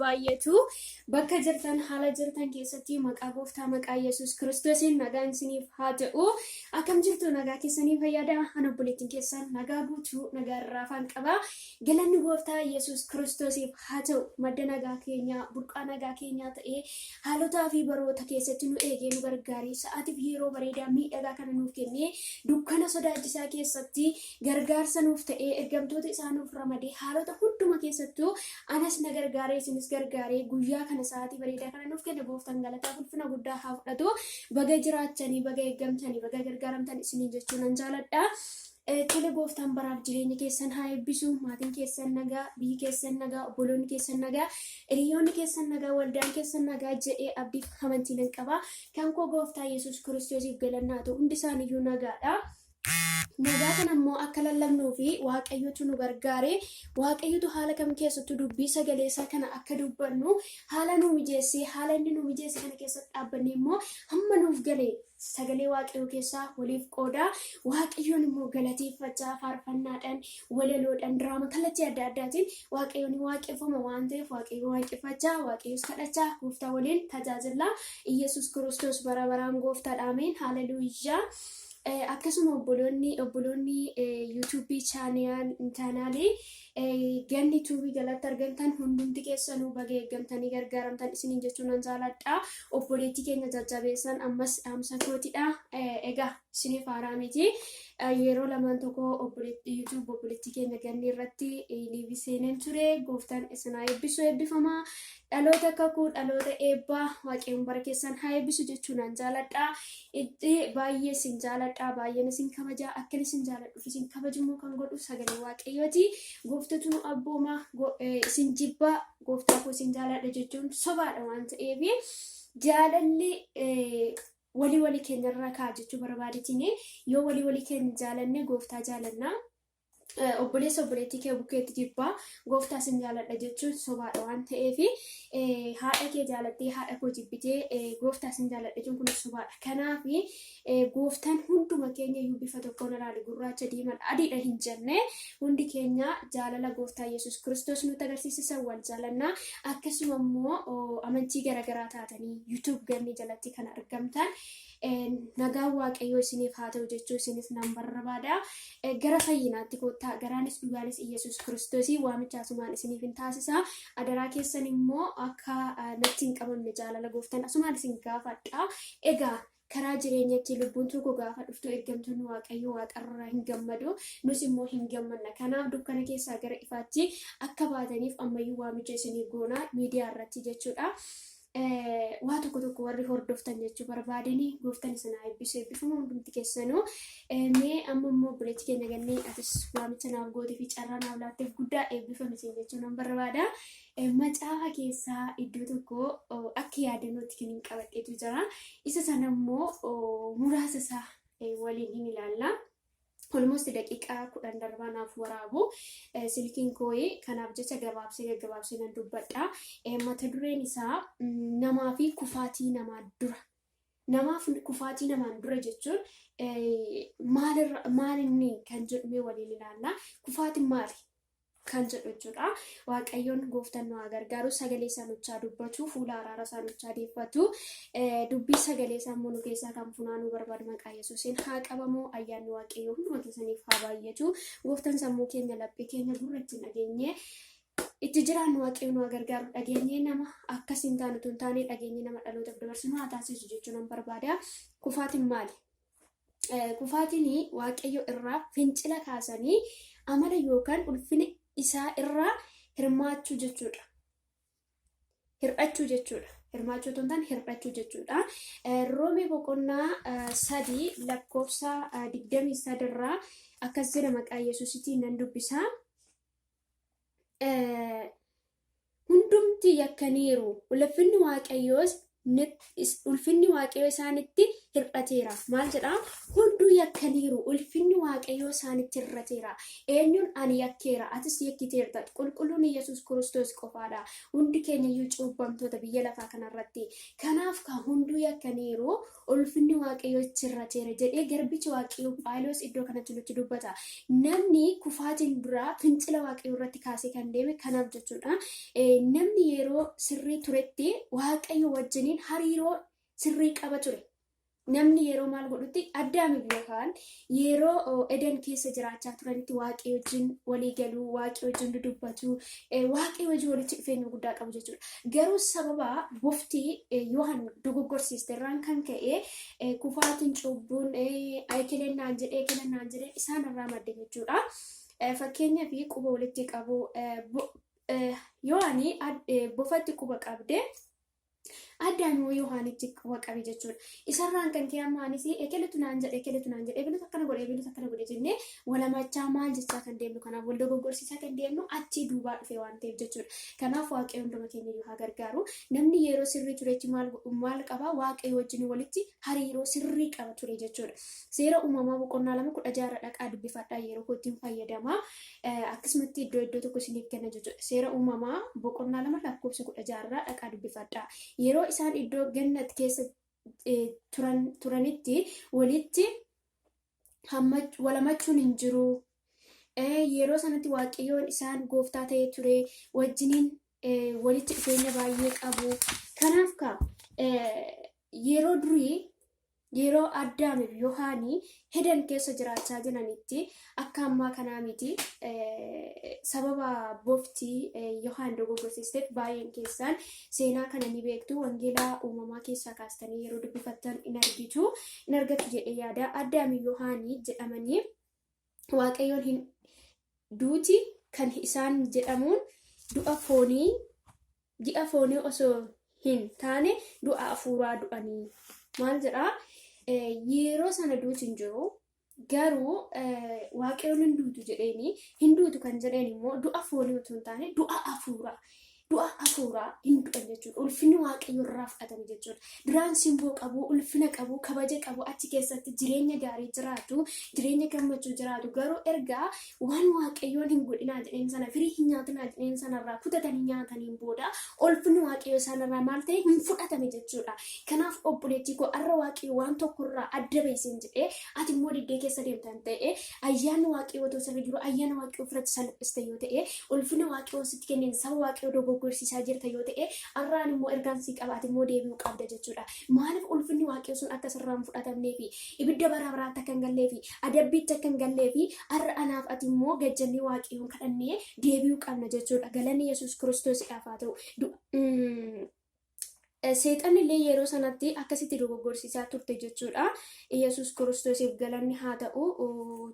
baay'atu bakka jirtan haala jirtan keessatti maqaa gooftaa maqaa yesus kiristoosiin nagaan isiniif haa ta'u akkam jirtu nagaa keessanii fayyada an obboleettiin keessan nagaa guutuu nagaa irraa afaan qaba Galanni gooftaa Yesuus Kiristoosiif haa ta'u madda nagaa keenyaa burqaa nagaa keenyaa ta'ee haalotaa fi baroota keessatti nu eegee nu gargaaree sa'aatiif yeroo bareedaa miidhagaa kana nuuf kennee dukkana sodaachisaa keessatti gargaarsa nuuf ta'ee ergamtoota isaa nuuf ramadee haalota hunduma keessattuu anas na gargaaree isinis gargaaree guyyaa kana sa'aatii bareedaa kana nuuf kenne gooftaan galataa ulfina guddaa haa fudhatu baga jiraachanii baga eeggamtanii baga gargaaramtan isiniin jechuu nan jaaladha. Tole gooftaan baraaf jireenya keessan haa eebbisu. Maatiin keessan nagaa, biyyi keessan nagaa, obboloonni keessan nagaa, hiriyoonni keessan nagaa, waldaan keessan nagaa jedhee abdiif amantii nan qaba. Kan koo gooftaa Yesuus Kiristoosiif galanni haa ta'u hundi isaaniiyyuu nagaadha. Nagaa kana immoo akka lallabnuu fi waaqayyotu nu gargaare waaqayyotu haala kam keessattuu dubbii sagalee isaa kana akka dubbannu haala nu mijeessee haala inni nu mijeesse kana keessatti dhaabbannee immoo hamma nuuf gale sagalee waaqayyoo keessaa waliif qoodaa waaqayyoon immoo galateeffachaa faarfannaadhaan walaloodhaan diraama kallattii adda addaatiin waaqayyoon waaqeffama waan ta'eef waaqayyo waaqeffachaa waaqayyoos kadhachaa gooftaa waliin tajaajila iyyasuus kiristoos bara baraan gooftaadha ameen haleluuyyaa. Akkasuma obboloonni obboloonni yuutuubii chaanaalii Ganni tuubii jalatti argamtan hundumti keessanuu baga eeggamtanii gargaaramtan isiniin jechuun nan jaaladha. Obboleettii keenya jajjabeessan ammas dhaamsa kootidha. Egaa isiniif haaraa miti. Yeroo lamaan tokko YouTube obboleettii keenya ganni irratti liivii seeneen ture. Gooftaan isinaa eebbisu eebbifama. Dhaloota kakuu dhaloota eebbaa waaqayyoon bara keessan haa eebbisu jechuun an jaaladha. Itti baay'ee isin jaaladha baay'een isin kabaja akka isin jaaladhuuf isin kabajummoo kan godhu sagalee waaqayyooti. Gooftatu nu abbooma go- eh, isin jibba gooftaa koo isin jaaladha jechuun sobaadha waan ta'eef jaalalli eh, walii walii keenyarraa ka'a jechuu barbaadetini yoo walii walii keenya jaalanne gooftaa jaalanna. obboleessa obboleettii kee bukkeetti jibbaa gooftaa sin jaaladha jechuun sobaadha waan ta'eef haadha kee jaalattee haadha koo jibbitee gooftaa sin jaaladha jechuun kun sobaadha. Kanaaf gooftaan hunduma keenya iyyuu bifa tokkoon ilaali gurraacha diimaan adiidha hin jenne hundi keenya jaalala gooftaa Yesuus Kiristoos nutti agarsiisisa wal jaalanna akkasuma immoo amantii garaagaraa taatanii YouTube gannee jalatti kan argamtan. nagaan waaqayyoo isiniif haa ta'u jechuu isiniif nan barbaada. Gara fayyinaatti koottaa garaanis dhugaanis Iyyasuus Kiristoosii waamicha asumaan isiniif hin taasisa. Adaraa keessan immoo akka natti hin qabamne jaalala gooftan asumaan isin gaafadha. Egaa karaa jireenyatti lubbuun tokko gaafa dhuftu ergamtoonni waaqayyoo waaqarraa hin gammadu. Nus immoo hin gammanna. Kanaaf dukkana keessaa gara ifaatti akka baataniif ammayyuu waamicha isinii goona miidiyaa irratti jechuudha. waa tokko tokko warri hordoftan jechuu barbaadanii gooftan isin haa eebbisu eebbifama hundumti keessanuu mee amma immoo buleetti keenya gannee atis waamicha naaf gootee fi carraa naaf laatteef guddaa eebbifame isin jechuu nan barbaada macaafa keessaa iddoo tokko akka yaadannootti kan hin qabadhetu jira isa sana immoo muraasa isaa waliin hin ilaalla. Olmost daqiiqaa kudhan darbaa naaf waraabu silkiin kooyi kanaaf jecha gabaabsee gaggabaabsee nan dubbadha. Mata dureen isaa namaa fi kufaatii namaa dura. Namaaf kufaatii namaan dura jechuun maalirra maalinni kan jedhumee waliin ilaalla. Kufaatiin maali? kan jedhu jechuudha. Waaqayyoon gooftan nu haa gargaaru sagalee isaa nuchaa dubbatu fuula araara isaa nuchaa deeffatu dubbii sagalee isaa immoo nu keessaa kan funaanuu barbaadu maqaa yesuusiin haa qabamu ayyaanni waaqayyoo hunduma keessaniif haa baay'atu gooftan sammuu keenya laphee keenya gurra itti dhageenye itti jiraannu waaqayyoon nu haa gargaaru dhageenye nama akkasiin taanu tun taanee dhageenye nama dhalootaaf dabarsinu haa taasisu jechuun nan barbaada kufaatiin maali? kufaatiin waaqayyo irraa fincila kaasanii amala yookaan ulfina isaa irraa hirmaachuu jechuudha. Hir'achuu jechuudha. Hirmaachuu otoo hin taane hir'achuu jechuudha. Roomee boqonnaa sadii lakkoofsa digdamii sadirraa akkas jedha maqaa Yesuusitiin nan dubbisa. hundumti yakkaniiru, ulfinni Waaqayyoos ulfinni Waaqayyoo isaanitti hir'ateera. Maal jedha? Hunduu yakkaniiru, ulfinni Waaqayyoo isaanitti hir'ateera. Eenyuun ani yakkeera, atis yakkiteerta. Qulqulluun Yesuus Kiristoos qofaadha. Hundi keenya iyyuu cuubbamtoota biyya lafaa kanarratti. Kanaaf kan hunduu yakkaniiru, ulfinni Waaqayyoo itti hir'ateera jedhee garbichi Waaqayyoo Phaawulos iddoo kanatti nutti dubbata. Namni kufaatiin duraa fincila Waaqayyoo irratti kaasee kan deeme kanaaf jechuudha. Namni yeroo sirrii turetti Waaqayyo wajjiniin hariiroo sirrii qaba ture. Namni yeroo maal godhutti addaamiif yookaan Yeroo Eden keessa jiraachaa turanitti Waaqayyo wajjin walii galuu, Waaqayyo wajjin dudubbatu, Waaqayyo wajjin walitti dhufeenya guddaa qabu jechuudha. Garuu sababa bofti Yohan dogoggorsiiste irraan kan ka'e kufaatiin cubbuun ekeleen naan jedhee ekeleen naan jedhee isaan irraa madde jechuudha. Fakkeenya fi quba walitti qabu Yohani bofatti quba qabde Addaan hoo Yohaanichi quba qabe jechuudha. Isarraan kan kee amma anis ekeletu naan jedhe ekeletu naan jedhe ebelutu akkana godhe ebelutu akkana godhe jennee walamachaa maal jechaa kan deemnu kanaaf wal dogoggorsiisaa kan deemnu achii duubaa dhufee waan ta'eef jechuudha. Kanaaf waaqayyo hunduma keenya iyyuu haa gargaaru. Namni yeroo sirrii turetti maal maal qaba waaqayyo wajjin walitti hariiroo sirrii qaba ture jechuudha. Seera uumamaa boqonnaa lama kudha jaarra dhaqaa dubbifadhaa yeroo kootiin fayyadamaa. akkasumatti iddoo iddoo tokko isiniif kenna jechuudha. Seera uumamaa boqonnaa lama lakkoofsa kudha jaarraa dhaqaa dubbifadha. Yeroo isaan iddoo gannat keessa turan turanitti walitti walamachuun hin jiru. Yeroo sanatti waaqayyoon isaan gooftaa ta'ee ture wajjiniin walitti dhufeenya baay'ee qabu. Kanaaf ka yeroo durii Yeroo Addaamii fi Yohaanii hedan keessa jiraachaa jiranitti akka ammaa kanaa miti sababa bofti Yohaan dogoggorsiisteef baay'een keessaan seenaa kana ni beektu wangeelaa uumamaa keessaa kaastanii yeroo dubbifattan in argitu in argattu jedhee yaada Addaamii Yohaanii jedhamanii waaqayyoon hin duuti kan isaan jedhamuun du'a foonii ji'a foonii osoo hin taane du'a afuuraa du'anii maal jedhaa yeroo sana duuti hin jiru garuu waaqayyoon hin duutu jedheeni hin duutu kan jedheen immoo du'a foonii utuu hin taane du'a afuuraa du'a hafuuraa hin du'an jechuudha. Ulfinni waaqayyo irraa fudhatame jechuudha. Duraan simboo qabu, ulfina qabu, kabaja qabu, achi keessatti jireenya gaarii jiraatu, jireenya gammachuu jiraatu. Garuu erga waan waaqayyoon hin godhinaa jedheen sana, firii hin nyaatinaa jedheen sanarraa kutatanii nyaataniin booda ulfinni waaqayyo isaanirraa maal ta'e hin fudhatame jechuudha. Kanaaf obboleettii koo har'a waaqayyo waan tokkorraa adda bahisin jedhee ati immoo diddee keessa deemtan ta'e ayyaanni waaqayyoo otoo sirra jiru ayyaana waaqayyoo ofirratti salphiste yoo ta'e ulfina waaqayyoo sitti kenneen saba waaqayyoo dogoggorsiisaa jirta yoo ta'e har'aan immoo ergaan sii qabaate immoo deebi'uu qabda jechuudha maaliif ulfinni waaqayyoo sun akka sirraa hin fudhatamnee fi ibidda bara baraatti akka hin gallee fi adabbiitti akka hin gallee fi har'a anaaf ati immoo gajjannee waaqayyoon kadhannee deebi'uu qabna jechuudha galanni yesuus kiristoosidhaaf haa ta'u Du- mm, Seexanni illee yeroo sanatti akkasitti dogoggorsiisaa turte jechuudha. Iyyasuus Kiristoosiif galanni haa ta'u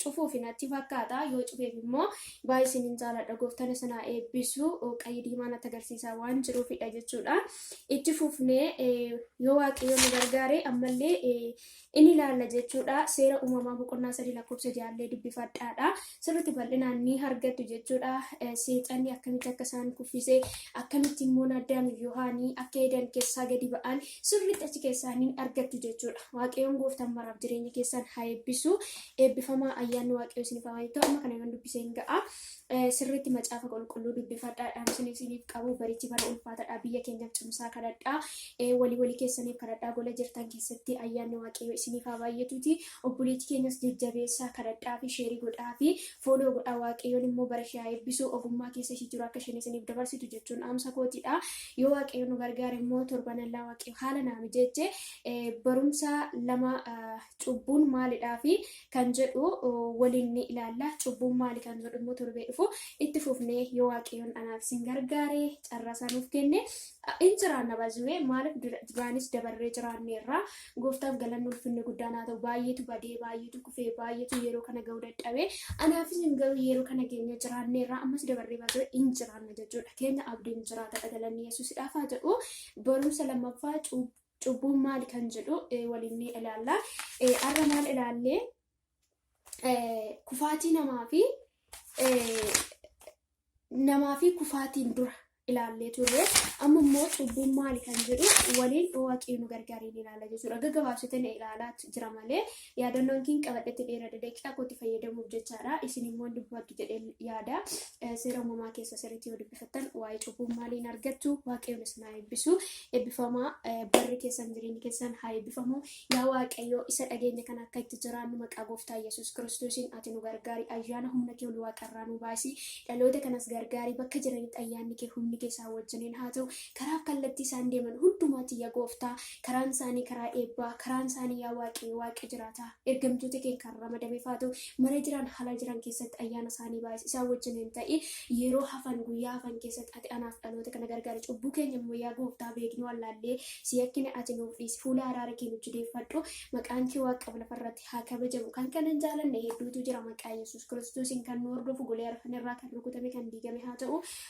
cufuuf natti fakkaata. Yoo cufeef immoo baay'ee isinin jaaladha gooftaan isin haa eebbisu qayyii diimaa natti agarsiisaa waan jiruufidha jechuudha. Itti fufnee yoo waaqayyo nu gargaare ammallee in ilaalla jechuudha. Seera uumamaa boqonnaa sadii lakkoofsa jaallee dubbifadhaadha. Sirriitti bal'inaan ni argattu jechuudha. Seexanni akkamitti akka isaan kuffisee akkamitti immoo Addaam fi Yohaanii akka Eeden keessaa gadi ba'an sirriitti achi keessaa ni argattu jechuudha. Waaqayyoon gooftaan maraaf jireenya keessan haa eebbisu. Eebbifamaa ayyaanni Waaqayyoo isiniif haa baay'atu. Amma kana yoon dubbisee hin ga'a. Sirriitti macaafa qulqulluu dubbifadhaa. Dhaamsin isiniif qabu barichi bara ulfaatadha. Biyya keenyaaf cimsaa kadhadhaa. Walii walii keessaniif kadhadhaa. Gola jirtan keessatti ayyaanni waaqayyoo isiniif haa baay'atuuti. Obboleetti keenyas jajjabeessaa kadhadhaa fi sheerii godhaa fi fooloo godhaa. Waaqayyoon immoo bara ishee haa eebbisu. Ogummaa keessa ishii jiru akka isheen isiniif dabarsitu jechuun dhaamsa kootidha. Yoo waaqayyo nu gargaare immoo torban allaa waaqayyo haala naa mijeeche barumsa lama cubbuun maalidhaa fi kan jedhu waliin ni ilaalla. Cubbuun maali kan jedhu immoo torbee dhufu itti fufnee yoo waaqayyoon anaaf isin gargaaree carraa isaa nuuf kenne in jiraanna bazuwee maaliif duraanis dabarree jiraanneerra gooftaaf galanni ulfinni guddaan haa ta'u baay'eetu badee baay'eetu kufee baay'eetu yeroo kana ga'uu dadhabee anaaf isin garuu yeroo kana keenya jiraanneerra ammas dabarree bazuwee in jiraanna jechuudha keenya abdiin jiraata dhagalanni yesuusidhaaf haa jedhu barumsa lammaffaa cubbuu Cubbuun maali kan jedhu waliin ni ilaalla. Har'a maal ilaallee kufaatii namaa fi namaa fi kufaatiin dura ilaallee turre amma immoo cubbuun maali kan jedhu waliin waaqii nu gargaaree ilaala jechuudha. Gaggabaabsitanii ilaalaa jira malee yaadannoon kiin qabadhetti dheerada daqiiqaa kootti fayyadamuuf jechaadha. Isin immoo dubbadhu jedhee yaada. Seera uumamaa keessa sirriitti yoo dubbifattan waa'ee cubbuun maaliin argattu waaqayyoon isin haa eebbisu. Eebbifamaa barri keessan jireenyi keessan haa eebbifamu. Yaa waaqayyoo isa dhageenya kana akka itti jiraannu maqaa gooftaa Yesuus Kiristoosiin ati nu gargaari. Ayyaana humna kee ol waaqarraa nu baasi. Dhaloota kanas gargaari bakka jiranitti ayyaanni kee humni kee isaan wajjiniin haa ta'u. Karaaf kallattii isaan deeman hundumaatti yaa gooftaa karaan isaanii karaa eebbaa karaan isaanii yaa waaqee waaqee jiraataa ergamtoota kee kan ramadame faatu mana jiran haala jiran keessatti ayyaana isaanii baay'is isaan wajjin hin ta'i yeroo hafan guyyaa hafan keessatti ati anaaf dhaloota kana gargaara cubbuu keenya immoo yaa gooftaa beeknu wallaallee si yakkine ati nuuf dhiisi fuula araara kee nu jideeffadhu maqaan kee waaqa lafarratti haa kabajamu kan kana hin jaalanne hedduutu jira maqaa yesus kiristoosiin kan nu hordofu golee arfan irraa kan rukutame kan diigame haa ta'u